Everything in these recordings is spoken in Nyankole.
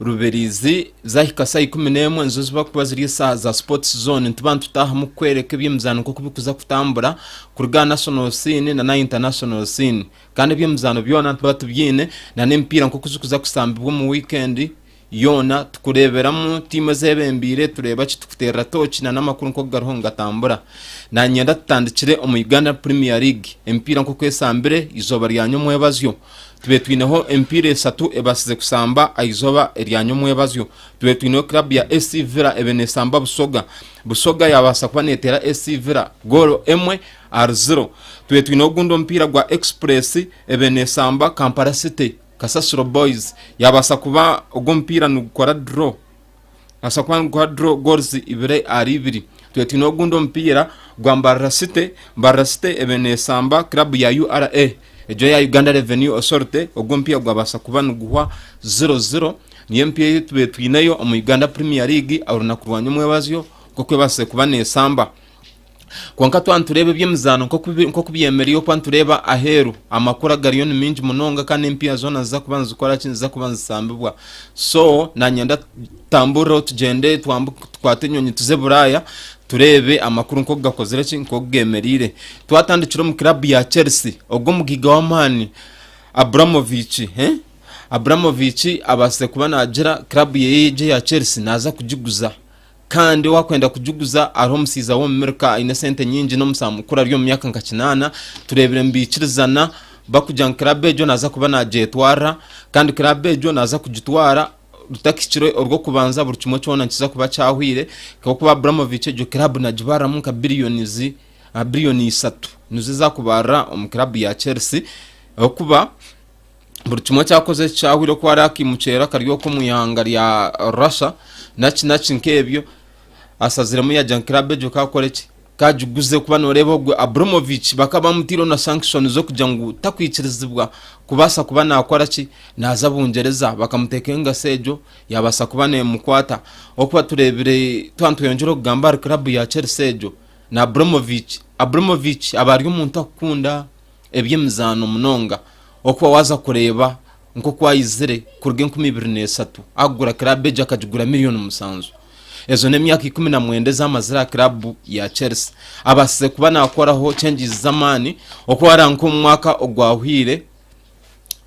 Rubirizi, Zaahika shaaha ikumi n'emwe nizo ziba kuba ziri eshaaha za Sports Zone. Nituba nitutaahamu kukworeka eby'emizaano nk'oku birikuza kutambura kuruga aha National Scene na n'aha International Scene. Kandi eby'emizaano byona nituba tubyine na n'emipiira nk'oku zikuza kushambibwa omu weekend yoona. Tukureeberamu tiimu ezebembeire, tureeba ki, tukuteerera tooki na n'amakuru nk'oku gariho nigatambura. Nanyenda tutandikire omu Uganda Premier League, emipiira nk'oku eshambire eizooba rya nyomwebazyo. Tube twineho emipiira esatu ebasize kusamba ahizoba erya nyomwebazyo. Tube twineho club ya SC Villa ebe nesamba Busoga. Busoga yabasa kuba netera SC Villa goolo emwe ahari ziro. Tube twineho ogundi omupiira gwa Express ebe nesamba Kampala City. Kasasiro Boys yabasa kuba ogu omupiira nigukora draw. Nibasa kuba niguha draw goals ibiri ahari ibiri. Twire twine ogundi omupiira gwa Mbarara City. Mbarara City ebe nesamba club ya URA egyo ya Uganda Revenue Authority. Ogu omupiira gwabasa kuba niguhwa 0-0. Niyo emipiira eyi tubire twineyo omu Uganda Premier League aha runaku rwa nyomwebazyo nk'oku ebasire kuba nesamba. Kwonka twaba nitureeba eby'emizaano nk'oku byemereire okuba nitureeba aheeru, amakuru agariyo ni mingi munonga kandi empiiha zoona niziza kuba nizikora ki? Niziza kuba nizisambibwa. So nanyenda tutambureho tugyende tukwate enyonyi tuze Buraaya tureebe amakuru nk'oku gakozire ki? Nk'oku geemereire. Twatandikira omu kiraabu ya Chelsea, ogu omugiga w'amaani Abramovich, Abramovich abaasize kuba naagira kiraabu ye eyi eya Chelsea naaza kugiguza. Kandi wakwenda kugiguza hariho omusaiza w'omu Mirika aine sente nyingi n'omusaho mukuru ari omu myaka nka kinaana. Tureebire nibaikirizana bakugira ngu kiraabu egyo naaza kuba nagyetwarira kandi kiraabu egyo naaza kugitwara rutahikire orw'okubanza buri kimwe kyona nikiza kuba kyahwire ahabw'okuba Abramovich egyo kiraabu nagibaariramu nka biliyonizi aha biliyoni isatu nizo ezaakubaarira omu kiraabu ya Chelsea ahabw'okuba buri kimwe eki akoze eki kyahwire oku ari akimuceera akari oku omu ihanga rya russia naki naki nk'ebyo asaziremu yagya ngu club egyo kakora eki kagiguze kuba noreeba ogwe abramovich bakaba bamutiireho na sanction z'okugira ngu takwikirizibwa kubaasa kuba nakora ki naaza bungyereza bakamuteeka engasi egyo yabaasa kuba nemukwata okuba tureebire tuba nitweyongyera okugamba ahari club ya chelsea egyo na abramovich abramovich aba ari omuntu akukunda Eby'emizaano munonga okuba waaza kureeba nk'oku ayizire kuruga enkumi ibiri n'eshatu akugura kiraabu egyo akagigura milioni musanju. Ezo n'emyaka ikumi na mwenda ezi amazire aha kiraabu ya Chelsea. Abaasize kuba naakoraho changes z'amaani okuba waareeba nk'omu mwaka ogwahweire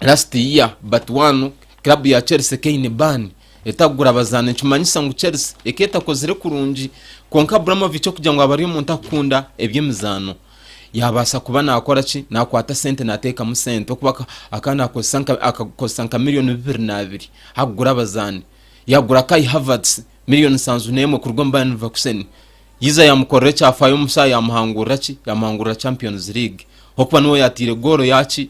last year but one kiraabu ya Chelsea eka eine ban etakugura bazaani nikimanyisa ngu Chelsea eka etakozire kurungi kwonka Abramovich okugira ngu aba ari omuntu akukunda eby'emizaano yaabaasa kuba naakora ki? Naakwata sente naateekamu sente okuba akaba naakozesa nka akakozesa nka miliyoni bibiri naabiri akugura abazaani yaagura Kai Havertz miliyoni nsanju n'emwe kuruga omu Bayern Leverkusen yiza yaamukorera ekyafaayo omu shaaha yaamuhangurira ki yaamuhangurira Champions League okuba niwe yaataire goolo yaaki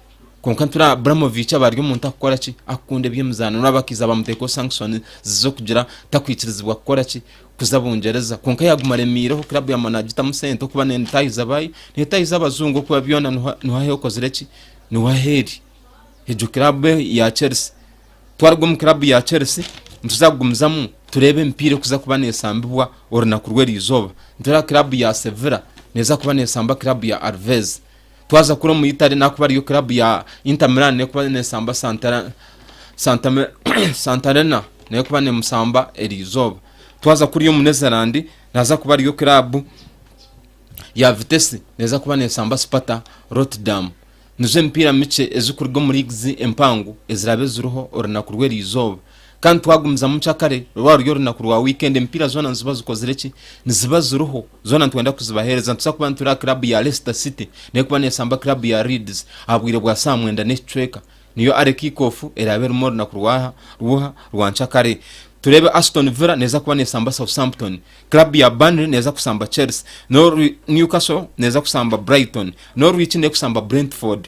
Kwonka nitureeba Abramovich aba ari omuntu akukora ki? Akukunda eby'emizaano. Noreeba bakaiza bamuteekaho sankishoni ziz'okugira takwikirizibwa kukora ki? Kuza Bungyereza. Kwonka yaaguma aremiireho, kirabu yaaguma naagitamu sente okuba neetaahiza baayi, neetaahiza abazungu okuba byona niho niho ahi okozire ki? Niho ahi eri. Egyo kirabu ya Chelsea. Twaruga omu kirabu ya Chelsea, nituza kugumizamu tureebe emipiira erikuza kuba neesambibwa orunaku rw'erizooba. Nitureeba kirabu ya Sevilla neeza kuba neesamba kirabu ya Alves. Twaza kuri omu Italy n'ahakuba ariyo club ya Inter Milan n'ekuba nesamba Santara Santa Santarena n'ekuba nemusamba erizooba. Twaza kuri omu Netherland naza kuba ariyo club ya Vitesse neza kuba nesamba Sparta Rotterdam. Nizo emipiira mikye ezikuruga omu leagues empango eziraabe ziriho orunaku rw'erizooba. Kandi twagumizamu kye kare rwaba ruri orunaku rwa weekend emipiira zoona niziba zikozire ki niziba ziriho zoona nitwenda kuzibahereza nituza kuba nituri aha club ya Leicester City nekuba nesamba club ya Leeds aha bwire bwa saaha mwenda n'ekicweka niyo are kick off eraba erimu orunaku rwaha rw'oha rwa nkya kare turebe Aston Villa neza kuba nesamba Southampton club ya Burnley neza kusamba Chelsea n'oru Newcastle neza kusamba Brighton n'orwiki nekusamba Brentford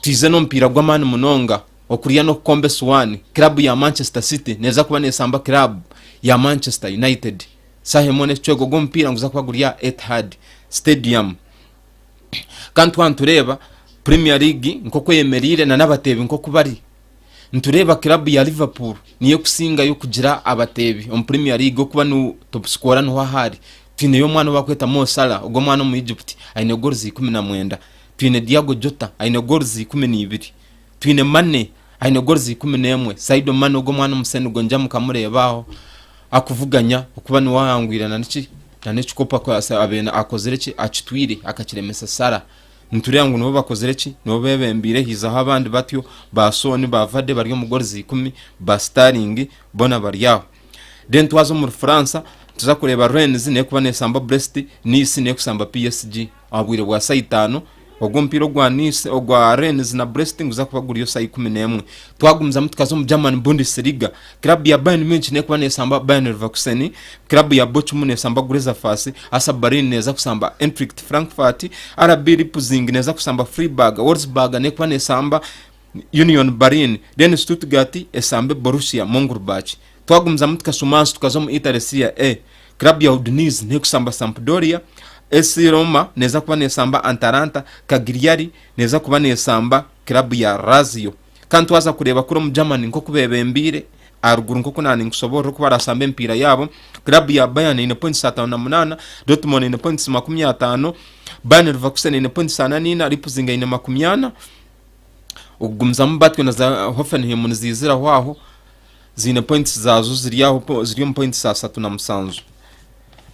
Twaize n'omupiira gw'amaani munonga okurya n'okukomba esuwaani. Kiraabu ya Manchester City neeza kuba neesamba kiraabu ya Manchester United shaaha emwe n'ekicu egwo gw'omupiira niguza kuba guri aha Etihad Stadium. Kandi twaba nitureeba Premier League nk'oku eyemereire nana abateebi nk'oku bari, nitureeba kiraabu ya Liverpool niyo ekusingayo kugira abateebi omu Premier League okuba nu topusikora niho aha ari. Twineyo omwana obu barikweta Mo Salah, ogwo omwana omu Egypt aine goals ikumi na mwenda. Twine Diago Jota aine goals ikumi na ibiri. Twine Mane aine goals ikumi na emwe. Saido Mane ogu omwana omusenugo ngya mukamureeba aho akuvuganya okuba niwe ahangwire na niki na n'ekikopo akwasa abena akozire ki akitwire akakiremesa Salah. Nitureeba ngu nibo bakozire ki nibo bebembeire haizaho abandi batyo ba Son ba Vardy bari omu goals ikumi ba Sterling bona bari aho. Then twaza omuri Fransa nituza kureeba Rennes n'ekuba nesamba Brest, Nice n'ekusamba PSG. Aha bwire bwa saaha itaano ogwo omupiira ogwa Nice, ogwa Rennes na Brest niguza kuba guriyo saaha ikumi n'emwe. Twagumizamu tukaza omu German Bundesliga, kiraabu ya Bayern Munich neekuba neesamba Bayer Leverkusen, kiraabu ya Bochum neesamba Grezerfass, Hertha Berlin neeza kusamba Eintracht Frankfurt, RB Leipzing neeza kusamba Freiburg, Wolfsburg neekuba neesamba Union Berlin, then Stuttgart esambe Borussia Monchengladbach. Twagumizamu tukashuma ahansi tukaza omu Italy Serie A. Club ya Udinese nekusamba Sampdoria, AS Roma neza kuba nesamba Antalanta, Cagliari neza kuba nesamba club ya Lazio. Kandi twaza kureba kuri omu Germany nkoku bebembeire aharuguru nkoku naaba ninkusoborora oku barasamba emipiira yaabo. Club ya Bayern eine points ataano na munaana, Dortmund eine points makumi ataano, Bayer Leverkusen eine points ana na ina, Leipzig eine makumi ana. okugumizamu batyo na za Hoffenheim niziiziraho aho ziine points zaazo ziri aho po- ziri omu points asatu na musanju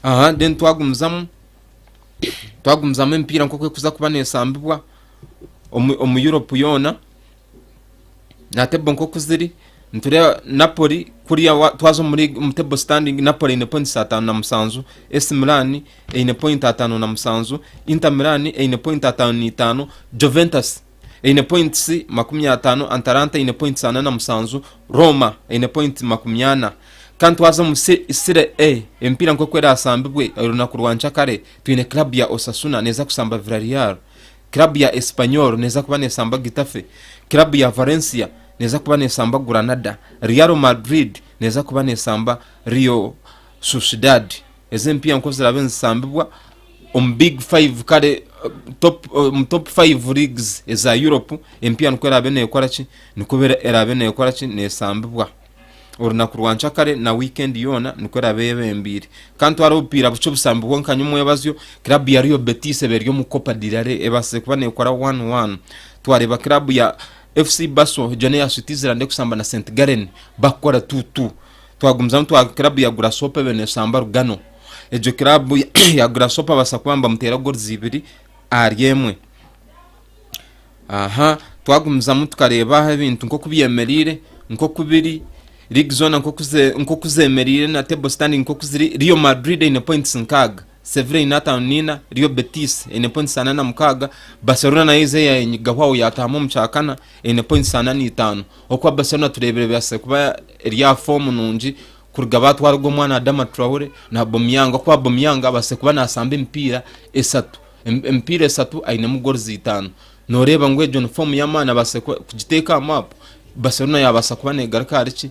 aha then twagumizamu twagumizamu emipiira nk'oku ekuza kuba neesambibwa omu omu Europe yoona na table nk'oku ziri nitureeba Napoli kuriya wa- twaza omuri omu table standing Napoli eine points ataano na musanju, AC Milan eine pointi ataano na musanju, Inter Milan eine pointi ataano na itaano, Juventus eine points makumi ataano, Antaranta eine points ana na musanju, Roma eine pointi makumi ana. Kandi twaza omu Sire A, emipiira nk'oku eraasambibwe orunaku rwa nkyakare, twine club ya Osasuna neeza kusamba Villarreal, club ya Espanyol neeza kuba neesamba Getafe, club ya Valencia neeza kuba neesamba Granada, Real Madrid neeza kuba neesamba Real Sociedad. Ezi empiiya nk'oku ziraabe nizisambibwa omu big five kare omu top five leagues eza Europe, empiiya nikwo eraabe neekora ki? Nikwo eraabe neekora ki? Neesambibwa orunaku rwa ncakare na wiikendi yoona nikwo eraabe eyebembeire. Ka ntware obupiira bukye obusambibwa nkanye omwebazyo, kiraabu ya Real Betis eba eri omu Copa del Rey ebaasize kuba neekora one one. Twareeba kiraabu ya FC Basel egyo n'eya Switzerland erikusamba na St Gallen bakukora two two. Twagumizamu twaruga club ya Grasshopper ebe neshamba Rugano. Egyo club ya Grasshopper basa kuba nibamuteera goals ibiri ahari emwe. Aha, twagumizamu tukareeba ahu ebintu nkoku byemereire, nkoku biri, league zoona nkoku ze- nkoku zemereire na table standing nkoku ziri. Real Madrid eine points nkaaga. Sevilla eine ataano naina, Real Betis eine points ana na mukaaga, Barcelona nayo eze yanyigahwaho yataahamu omu kyakana eine points ana na itaano. Okuba Barcelona tureebire ebatsire kuba eri aha foomu nungi kuruga baatwara ogwo mwana Adama Traore na Aubameyang. Okuba Aubameyang abatsire kuba naasamba emipiira esatu, emipiira esatu ainemu goals itaano. Nooreeba ngu egyo ni foomu y'amaani abatsire kugiteeka aha maapu, Barcelona yaabaasa kuba neegaruka ahari ki?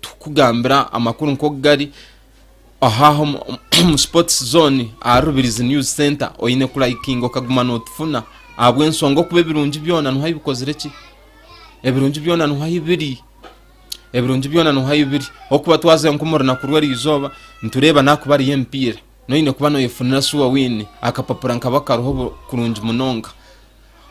Tukugambira amakuru nk'oku gari, ohaha omu Sports Zone aha Rubirizi News Center oine kulayikinga okaguma notufuna ahabw'ensonga okuba ebirungi byona nuho ahi bikozire ki ebirungi byona nuho ahi biri ebirungi byona nuho ahi biri okuba twaze nk'omu runaku rw'erizooba nitureeba nakuba ariyo emipiira Noine kuba noyefunira sure wine akapapura nkabo akariho obu kurungi munonga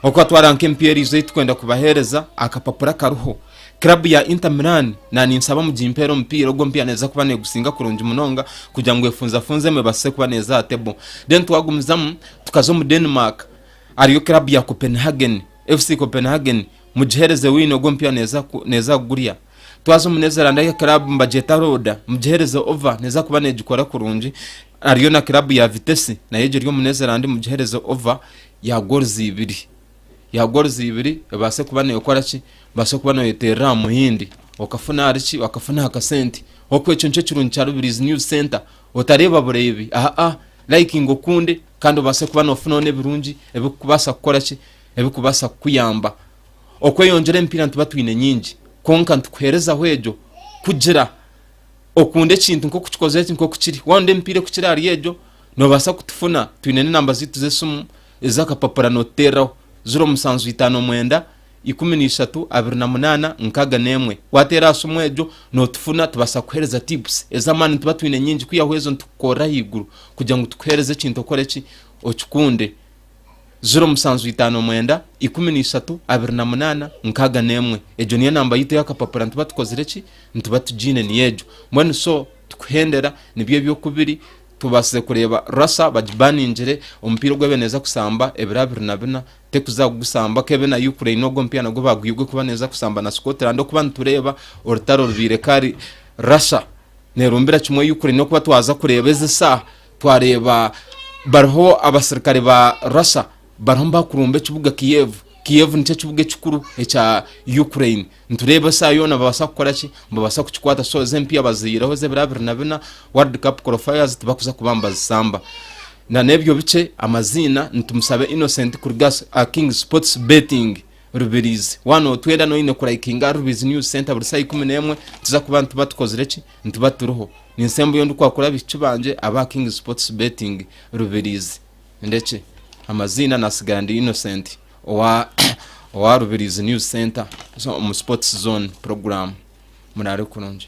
oku atwara nka empieri izo eyi tukwenda kubahereza akapapura akariho club ya Inter Milan na ninsaba mugimpere omupiira ogwo mpiya neza kuba negusinga kurungi munonga kugira ngu efunzafunzemu ebasise kuba neza aha table then twagumizamu tukaza omu Denmark ariyo club ya Copenhagen FC Copenhagen mugihereze wine ogwo mpiya neza neza kugurya. Twaza omu Netherland ahi club nibagyeta Roda, mugihereze over neeza kuba neegikora kurungi. Hariyo na club ya Vitesse nayo egyo eri omu Netherland, mugihereze over ya goals ibiri ya goals ibiri ebaase kuba neekora ki ebaase kuba nooyeteerera aha muhindi okafuna ahari ki okafuna aha kasente. Oku ekyo nikyo kirungi kya Rubirizi News Centre, otareeba bureebi aa likinga okunde kandi obaase kuba noofuna n'ebirungi ebikubaasa kukora ki ebikubaasa kukuyamba. Okweyongyera emipiira nituba twine nyingi, kwonka nitukuherezaho egyo kugira okunde ekintu nk'oku kikoze eki nk'oku kiri. Waakunda emipiira ekukira ahari egyo, noobaasa kutufuna. Twine n'enamba zaitu z'esimu ez'akapapura nootuteereraho, ziro musanju itaano mwenda ikumi na ishatu abiri na munaana nkaaga n'emwe. Waateera aha simu egyo nootufuna tubaasa kukuheereza tipusi ez'amaani. Nituba twine nyingi kwihaho ezo nitukukorera ahaiguru kugira ngu tukuheereze ekintu okore ki? Okikunde. ziro musanju itaano mwenda ikumi na ishatu abiri na munaana nkaaga n'emwe egyo niyo namba yaitu ey'akapapura nituba tukozire ki nituba tugiine niyo egyo mbwenu so tukuhendera nibyo eby'okubiri tubaasize kureeba rasa bagibaningire omupiira ogu ebe neeza kusamba ebiro abiri na bina tekuza kugusamba kebe na ukraine ogwo omupiira nagwo baagwiha ogw'okuba neeza kusamba na scotland okuba nitureeba orutaro rubaire kari rasa neerumbira kimwe ukraine okuba twaza kureeba ezi saaha Twareeba bariho abasirikare ba Russia bariho nibakurumba ekibuga Kiev. Kiev nikyo kibuga ekikuru ekya Ukraine. Nitureeba esaaha yoona nibabaasa kukora ki? Nibabaasa kukikwata. So ezi empiha baziihireho ez'ebiro abiri na bina, World Cup Qualifiers tibakuza kuba nibazisamba. Na n'ebyo bikye, amaziina ni Tumusabe Innocent kuruga aha King Sports Betting Rubiriizi. Waaba nootwenda na oine kurayikinga Rubiriizi News Centre buri saaha ikumi n'emwe, nituza kuba nituba tukozire ki? Nituba turiho. Ninsembayo ndikwakura abahiki bangye aba King Sports Betting Rubirizi. Ndekye. Amaziina nasigara ndi Innocent owa owa Rubirizi News Center zo- omu Sports Zone program. Murare kurungi.